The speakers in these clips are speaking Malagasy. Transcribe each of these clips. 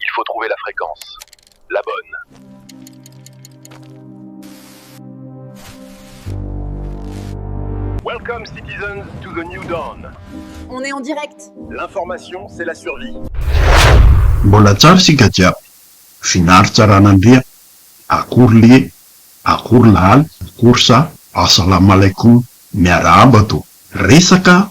il faut trouver la fréquence la bonne. Welcome citizens to the new dawn. On est en direct. L'information c'est la survie. Mbola tsara isika jiaby. Vinary Tsaranandria, akory lie, akory lahaly, akory sa, Assalamalaikum, miarahaba to. Resaka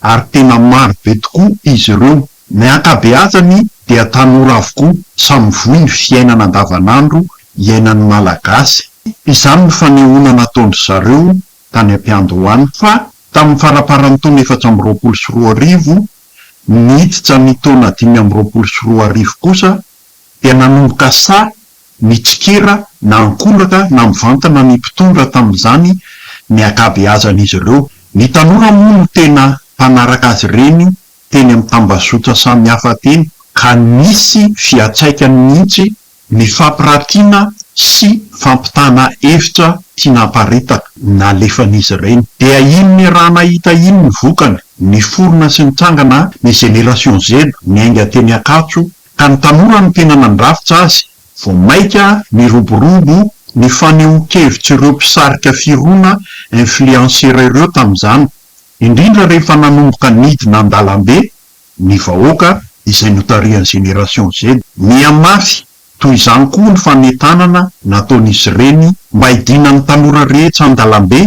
ary tena maro be tokoa izy ireo. Ny ankabeazany dia tanora avokoa, samy voa ny fiainana andavanandro iainan'ny Malagasy. Izany no fanehoana nataon-dry zareo tany am-piandohana. Fa tamin'ny faramparan'ny taona efatra amby roapolo sy roa arivo, niditra ny taona dimy amby roapolo sy roa arivo kosa, dia nanomboka sahy Nitsikera na ankolaka na mivantana ny mpitondra tamin'izany ny ankabeazan'izy ireo. Ny tanora moa no tena mpanaraka azy ireny teny amin'ny tambazotra samihafa teny, ka nisy fiantraikany mihitsy ny fampiratiana sy fampitana hevitra tiana hamparitaka nalefan'izy ireny. Dia iny niarahana hita iny ny vokany, niforona sy nitrangana ny Génération Z niainga teny Ankatso ka ny tanora no tena nandrafitra azy vao maika niroborobo ny fanehoan-kevitr'ireo mpisarika firona, influenceurs, ireo tamin'izany, indrindra rehefa nanomboka nidina an-dalambe ny vahoaka izay notarihan'ny Génération Z. Mihamafy toy izany koa ny fanentanana nataon'izy ireny mba hidinan'ny tanora rehetra an-dalambe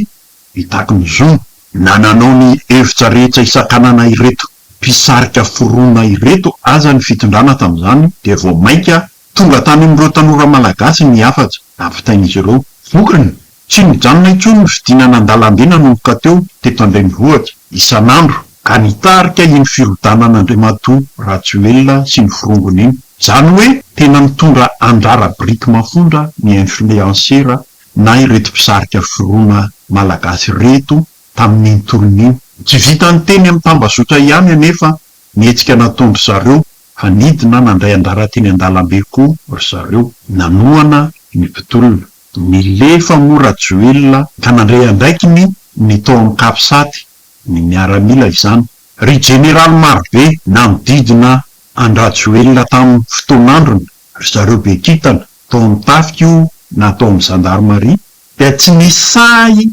Mitaky ny zony na nanao ny hevitra rehetra hisakanana ireto mpisarika forona ireto aza ny fitondrana tamin'izany dia vao mainka tonga tany amin'ireo tanora malagasy ny hafatra nampitain'izy ireo. Vokany, tsy nijanona intsony ny fidinana an-dalambe nanomboka teo teto an-drenivohitra, isan'andro, ka nitarika iny firodanan'Andriamatoa Rajoelina sy ny forongony iny. Izany hoe tena nitondra andrara biriky mafondra ny influencera na ireto mpisarika foroana malagasy ireto tamin'iny tolona iny. Tsy vitan'ny teny amin'ny tambazotra ihany anefa ny hetsika nataon-dry zareo fa nidina nandray anjara teny an-dalambe koa ry zareo. Nanohana ny mpitolona. Nilefa moa Rajoelina ka nandray andraikiny ny tao amin'ny Capsat, ny miaramila izany. Ry jeneraly marobe nanodidina an-dRajoelina tamin'ny fotoan'androny Ry zareo be kintana, tao amin'ny tafika io na tao amin'ny zandarimaria, dia tsy nisy sahy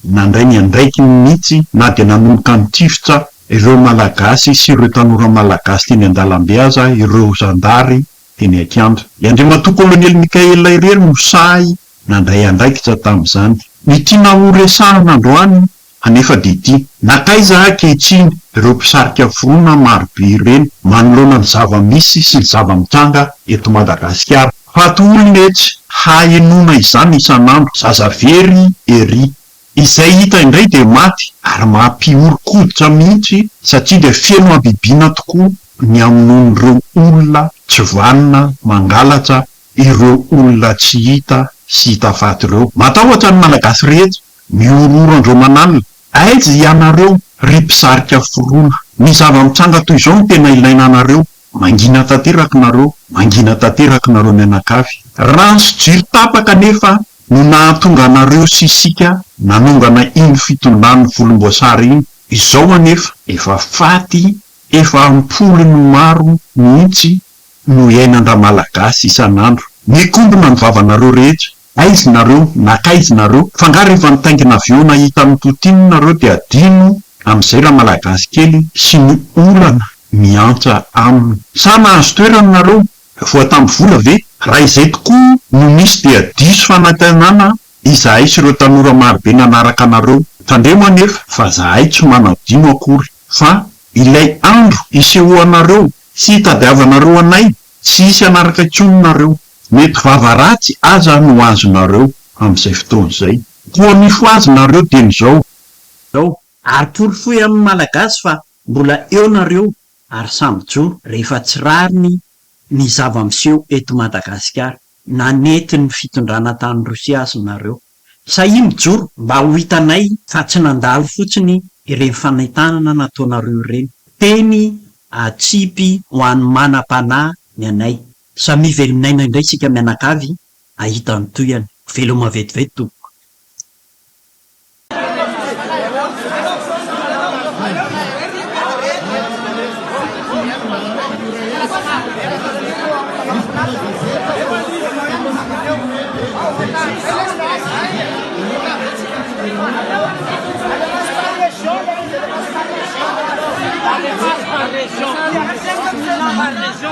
nandray ny andraikiny mihitsy na dia nanomboka nitifitra ireo Malagasy sy ireo tanora Malagasy teny an-dalambe aza ireo zandary teny an-kianja. I Andriamatoa Kolonely Mickaël irery no sahy nandray andraikitra tamin'izany. Ny tiana horesahana androany Anefa dia ity, na taiza ankehitriny ireo mpisarika vorona maro be ireny manoloana ny zava-misy sy ny zava-mitranga eto Madagasikara. Faty olona etsy, hahenoana izany isan'andro, zaza very ery. Izay hita indray dia maty ary mampihoron-koditra mihitsy satria dia feno habibiana tokoa ny hamonoan'ireo olona tsy vanona mangalatra ireo olona tsy hita sy hita faty ireo. Matahotra ny Malagasy rehetra Mihorohoro andro aman'alina. Aiza hianareo, ry mpisarika forona? Ny zava-mitranga toy izao no tena ilaina anareo. Mangina tanteraka nareo, mangina tanteraka nareo mianakavy. Rano sy jiro tapaka anefa no nahatonga anareo sy isika nanongana iny fitondran'ny volomboasary iny. Izao anefa, efa faty, efa am-polony maro mihitsy no iainandraMalagasy isan'andro. Mikombona ny vavanareo rehetra. Aiz nareo na kaiz nareo fa nga refa nitaingina avion nahita an'i Poutine nareo de adino amizay ra malagasy kely sy ny olana miantsa aminy. Sa nahazo toerana nareo voatamby vola ve? Ra izay tokoa no misy dia diso fanantenana izahay sy ireo tanora marobe nanaraka anareo. Tandremo anefa fa zahay tsy manadino akory fa ilay andro isehoanareo sy itadiavanareo anay tsy hisy hanaraka intsony nareo. Mety vava ratsy aza no azonareo amin'izay fotoana izay. Koa mifohazinareo dieny izao. Ary porofoy amin'ny Malagasy fa mbola eo nareo ary samy mijoro rehefa tsy rariny ny zava-miseho eto Madagasikara na nentin'ny fitondrana tany Rosia aza nareo. Sahia mijoro mba ho hitanay fa tsy nandalo fotsiny ireny fanentanana nataonareo ireny. Teny atsipy ho an'ny manam-panahy ny anay. Samia velomin'aina indray isika mianakavy ahita ny tohiny. Veloma vetivety tompoko.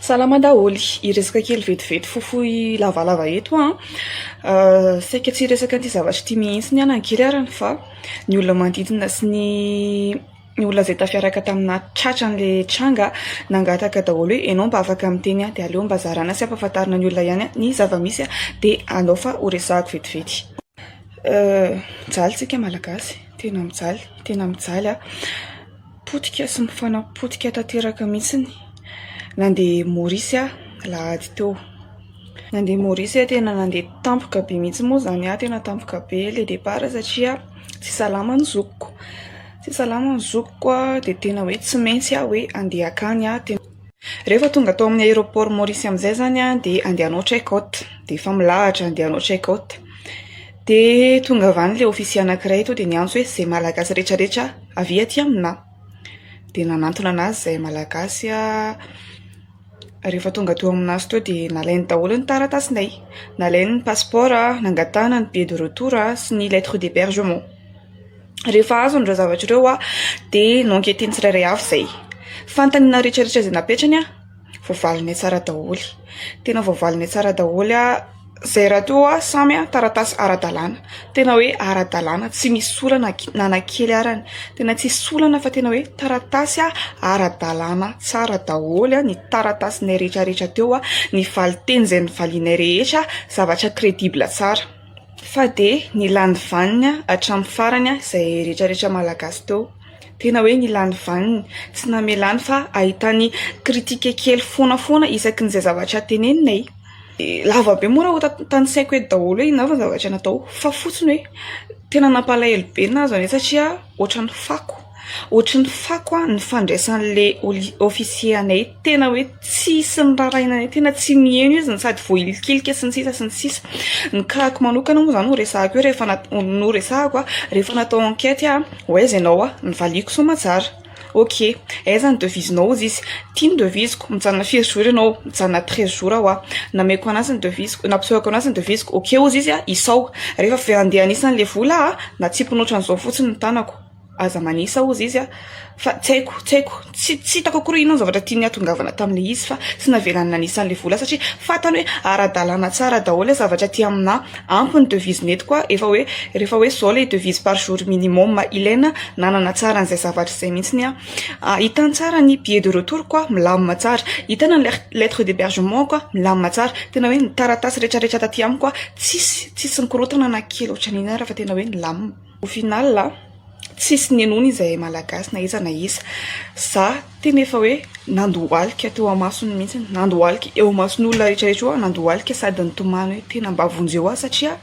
Salama daholo, hiresaka kely vetivety fohifohy lavalava eto aho. Saika tsy hiresaka an'ity zavatra ity mihitsy aho nankely ary fa ny olona manodidina sy ny ny olona izay tafiaraka tamina tratra an'ilay tranga nangataka daholo hoe ianao mba afaka miteny aho dia aleo mba zarana sy ampahafantarina ny olona ihany ny zava-misy dia aleo fa ho resahako vetivety. Mijaly isika Malagasy, tena mijaly, tena mijaly aho. Potika sy mifanapotika tanteraka mihitsy ny nandeha Maurice aho lahady teo. Nandeha Maurice aho tena nandeha tampoka be mihitsy moa izany aho tena tampoka be le départ satria tsy salama ny zokiko. Tsy salama ny zokiko dia tena hoe tsy maintsy aho hoe handeha hankany aho. Rehefa tonga tao amin'ny aéroport Maurice amin'izay izany aho dia handeha hanao check out dia efa milahatra handeha hanao check out. Dia tonga avy any ilay ofisier anankiray tonga dia niantso hoe izay malagasy rehetra rehetra avia aty aminà. Dia nanantona an'azy izay malagasy rehefa tonga teo amin'azy teo dia nalainy daholo ny taratasinay, nalainy ny passeport, nangatahana ny billet de retour sy ny lettre d'hebergement. Rehefa azony ireo zavatra ireo dia no-enqueteny tsirairay avy izay. Fantany ny rehetra rehetra izay napetrany an! Voavalinay tsara daholo. Tena voavalinay tsara daholo izay raha toa samy taratasy ara-dalàna. Tena hoe ara-dalàna tsy misy olana na na kely arany. Tena tsy misy olana fa tena hoe taratasy ara-dalàna tsara daholo ny taratasinay rehetra rehetra teo. Ny valinteny izay novalianay rehetra zavatra credible tsara. Fa dia nila ny vaniny hatramin'ny farany izay rehetra rehetra malagasy teo. Tena hoe nila ny vaniny, tsy namelany fa ahitany critique kely foana foana isaky ny izay zavatra tenenina e! Lava be moa raha hotantansaiko eto daholo hoe inona avy ny zavatra natao fa fotsiny hoe tena nampalahelo be ny nahazo an'ilay izy satria ohatran'ny fako. Ohatry ny fako aho ny fandraisan'le officier anay tena hoe tsisy nirarahiana anay tena tsy niheno izy no sady voahilikilika sy ny sisa sy ny sisa ny cas-ko manokana moa zany no resahiko eo rehefa no resahiko a rehefa natao enquête aho ho aiza ianao a ny valiako soamantsara ok aiza ny devisenao hozy izy ity ny devisiko mijanona firy jours ianao mijanona treize jours aho a nameko an'azy ny devisiko nampisehoako an'azy ny devisiko ok hozy izy a isaho rehefa avy eo andeha anisany le vola a natsipiny ohatran'izao fotsiny ny tanako Aza manisa hozy izy a! Fa tsy haiko, tsy haiko, tsy tsy hitako akory inona ny zavatra tiany nihatongavana tamin'ilay izy fa tsy navelany nanisa an'ilay vola satria fantany hoe ara-dalàna tsara daholo ilay zavatra aty aminà. Ampy ny devises nety koa efa hoe rehefa hoe izao ilay devises par jour minimum ilaina nanana tsara an'izay zavatra izay mihitsy ny ahy. Hitany tsara ny billet de retour ko aho milamina tsara, hitany ny lettre d'hébergement ko aho milamina tsara, tena hoe ny taratasy rehetra rehetra taty amiko aho tsisy tsisy nikorontana na kely ohatran'inona ary fa tena hoe nilamina. Au final a, tsisy ninoana izahay Malagasy na iza na iza. Za tena efa hoe nandohalika teo amasony mihitsy, nandohalika eo amason'olona rehetra rehetra eo aho nandohalika sady nitomany hoe tena mba vonjeo aho satria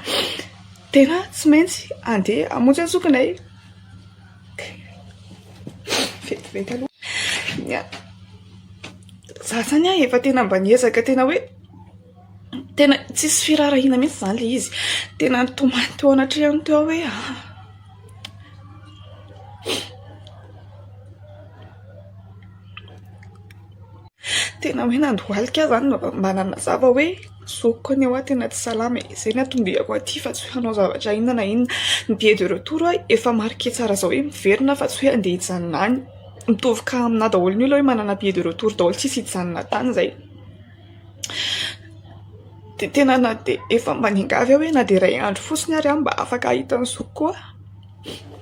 tena tsy maintsy andeha hamonjy ny zokinay. Vetivety aloha ny ahy. Za zany a efa tena mba niezaka tena hoe. Tena tsisy firaharahiana mihitsy izany ilay izy. Tena nitomany teo anatrehany teo aho hoe ha. Tena hoe nandohalika aho izany mba nanazava hoe zokiko anie hoa tena tsy salama e. Izay no anton-diako aty fa tsy hoe hanao zavatra inona na inona. Ny billet de retour ho'a efa marquer tsara izao hoe miverina fa tsy hoe handeha hijanona any. Mitovy cas aminà daholo ny olona hoe manana billet de retour daholo tsisy hijanona tany izay. dia tena na dia efa maningavy aho hoe na dia iray andro fotsiny ary aho mba afaka hahita ny zokiko koa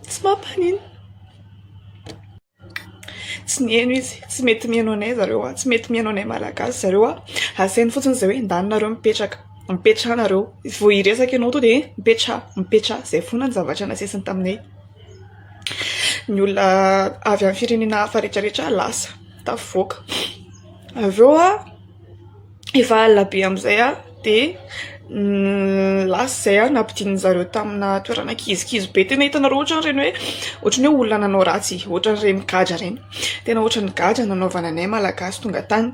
tsy mampaninona tsy niheno izy tsy mety miheno anay zareo aho tsy mety miheno anay malagasy zareo aho asainy fotsiny izay hoe endaninareo mipetraka mipetrahanareo vao hiresaka ianao tonga dia mipetraha mipetraha izay foana ny zavatra nasesiny taminay ny olona avy amin'ny firenena hafa rehetrarehetra lasa tafavoaka avy eo aho efa alina be amin'izay aho de lasa izay aho nampidinin'ny zareo tamina toerana kizikizy be tena hitanareo ohatra ireny hoe ohatra ny hoe olona nanao ratsy ohatra ireny gadra ireny tena ohatra ny gadra nanaovana anay malagasy tonga tany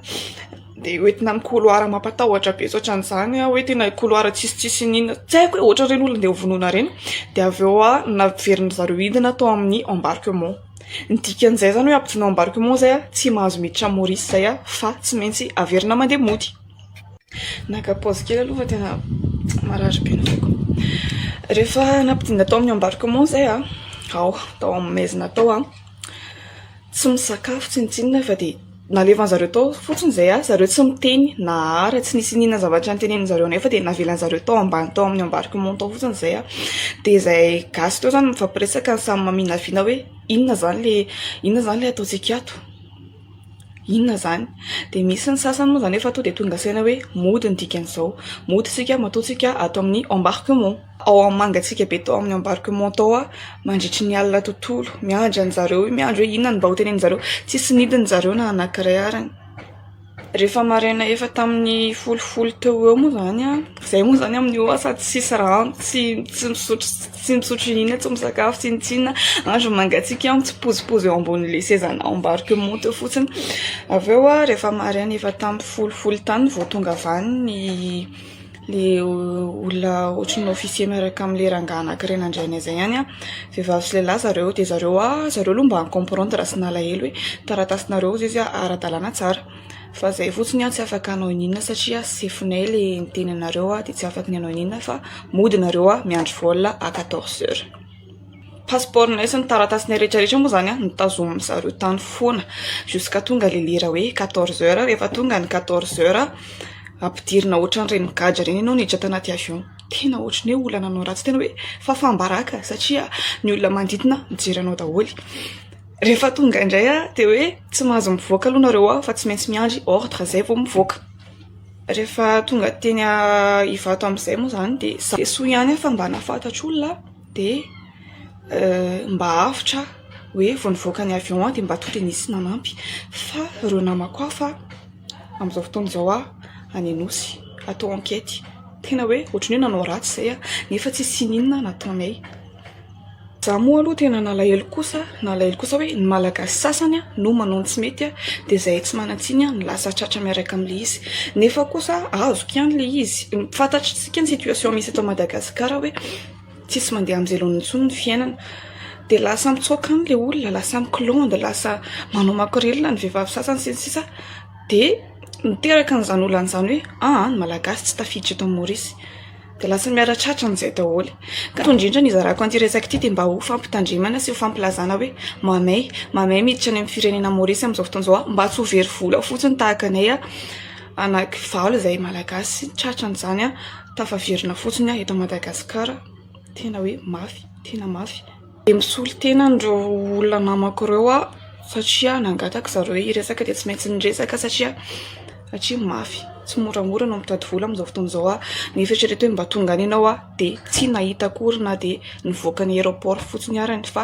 Dia hoentina amin'ny couloir mampatahotra be tsy ohatran'izany hoe tena couloir tsisitsisy n'inona tsy haiko hoe ohatra ireny olona andeha hovonoina ireny dia avy eo aho naverin'ny zareo hidina tao amin'ny embarquement ny dikan'izay izany hoe hampidina ao embarquement izay aho tsy mahazo miditra amin'i Maurice izay aho fa tsy maintsy averina mandeha mody naka paozy kely aloha fa tena marary be ny foko rehefa nampidina tao amin'ny embarquement izay aho ao tao amin'ny maizina tao aho tsy misakafo tsy nitsinona fa dia Nalevan'ny zareo tao fotsiny izay ary zareo tsy miteny na ara tsy nisy iniana zavatra nitenenin'ny zareo nefa dia navelan'ny zareo tao ambany tao amin'ny embarquement tao fotsiny izay a dia izay gasy teo izany mifampiresaka ny samy maminavina hoe inona izany le inona izany le ataontsika ato inona izany dia misy ny sasany moa izany efa tonga dia tonga saina hoe mody ny dikan'izao mody isika matoa isika ato amin'ny embarquement ao amin'ny mangatsiaka be tao amin'ny embarquement tao aho mandritry ny alina tontolo miandry anjareo io miandry hoe inona no mba hoteneninjareo tsisy nidiny zareo na anankiray ary rehefa maraina efa tamin'ny folo folo teo eo moa zany an zay moa zany amin'io aho sady tsisy rano tsy tsy misotro tsy misotro inona tsy misakafo tsy inona tsy inona andro mangatsiaka aho mitsipozipozy eo ambonin'le sezana ao embarquement teo fotsiny avy eo aho rehefa maraina efa tamin'ny folo folo tany vao tonga avy any ny Ilay olona ohatry ny officier miaraka amin'ilay rangahy anankiray nandray anay izay ihany, vehivavy sy lehilahy zareo dia zareo ah zareo aloha mba ni-comprendre sy nalahelo hoe taratasinareo ao izy ara-dalàna tsara fa izay fotsiny ah tsy afaka hanao iniana satria sefonay ilay niteny anareo ah dia tsy afaka ny hanao iniana fa mody nareo ah miandry vol à quatorze heures. Pasipaoronay sy ny taratasinay rehetra rehetra moa izany no tazomin'ny zareo tany foana jusqu'à tonga ilay lera hoe quatorze heures. Rehefa tonga ny quatorze heures, ampidirina ohatran'ireny gadra ireny ianao miditra tanaty avion. Tena ohatry ny hoe olona nanao ratsy tena hoe fahafaham-baraka satria ny olona manodidina mijery anao daholo. Rehefa tonga indray dia hoe tsy mahazo mivoaka aloha nareo ao fa tsy maintsy miandry ordre izay vao mivoaka. Rehefa tonga teny Ivato amin'izay moa izany dia saiso ihany aho fa mba nahafantatr'olona aho. dia mba avotra aho hoe vao nivoaka ny avion aho dia mba toa dia nisy nanampy fa ireo namako hafa amin'izao fotoana izao aho any Anosy atao ankety tena hoe ohatran'ny hoe nanao ratsy izay aho nefa tsy nisy inona nataonay za moa aloha tena nalahelo kosa nalahelo kosa hoe ny malagasy sasany aho no manao ny tsy mety aho dia izay tsy manan-tsiny aho ny lasa tratra miaraka amin'ilay izy nefa kosa azoko ihany ilay izy fantatro Midika ny situation misy eto Madagascar hoe tsisy mandeha am velona intsony ny fiainana dia lasa mitsoaka any le olona lasa mikilonda lasa manao makorelina ny vehivavy sasany sy ny sisa dia miteraka an'izany olana izany hoe aa ny malagasy tsy tafiditra eto Maorisy dia lasa miara tratra amin'izay daholo ka toy indrindra ny hizarako an'ity resaka ity dia mba ho fampitandremana sy ho fampilazana hoe mamay mamay miditra any amin'ny firenena Maorisy amin'izao fotoana izao mba tsy ho very vola fotsiny tahaka anay anaky valo izay malagasy tratra an'izany an tafaverina fotsiny aho eto Madagasikara tena hoe mafy tena mafy dia misolo tena an'ireo olona namako ireo aho satria nangataka zareo hoe hiresaka dia tsy maintsy niresaka satria satria mafy tsy moramora no mitady vola amin'izao fotoana izao aho nefa eritrereto hoe mba tonga any ianao aho dia tsy nahita akory na dia nivoaka ny aéroport fotsiny arany fa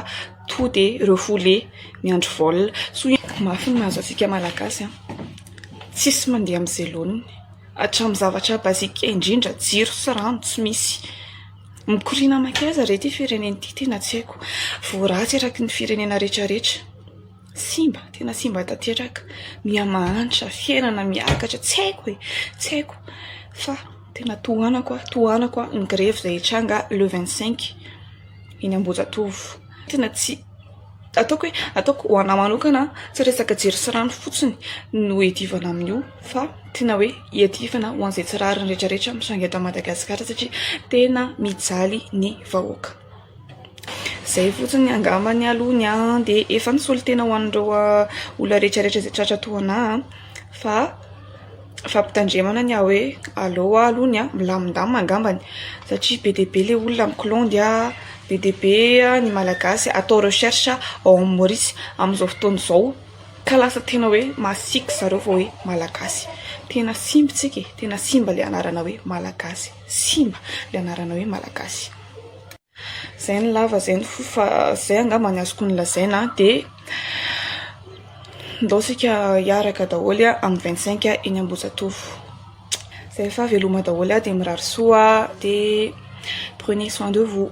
tonga dia refoulé miandry vol soa mafy ny mahazo antsika malagasy an Tsisy mandeha amin'ny zelony hatramin'ny zavatra basique indrindra jiro sy rano tsy misy. Mikoriana mankaiza re ity firenena ity tena tsy haiko. Voaratsy eraky ny firenena rehetra rehetra. Simba tena simba tanteraka. Miha mahantra fiainana miakatra tsy haiko e. Tsy haiko fa tena tohanako aho tohanako aho ny grevy izay hitranga le vingt cinq eny Ambohijatovo. Tena tsy. ataoko hoe ataoko ho anah manokana tsy resaka jiro sy rano fotsiny no iadivana amin'io fa tena hoe iadivana ho an'izay tsy rariny rehetra rehetra misainga eto Madagasikara satria tena mijaly ny vahoaka izay fotsiny angamba ny aloha ny ahy dia efa ny solontena ho an'ireo olona rehetra rehetra izay tratra toa anah fa Fampitandremana ny ahy hoe aleo aho aloha ny milamindamina angambany satria be dia be ilay olona mikilaondy, be dia be ny Malagasy atao recherche ao amin'ny Maorisy amin'izao fotoana izao ka lasa tena hoe masiaka zareo vao hoe Malagasy. Tena simba isika e, tena simba ilay anarana hoe Malagasy, simba ilay anarana hoe Malagasy. Zay ny lava zay ny fohy fa zay angamba no azoko nolazaina dia ndao isika hiaraka daholo amin'ny vingt cinq eny Ambohijatovo zay rehefa veloma daholo aho dia mirary soa dia prenez soin de vous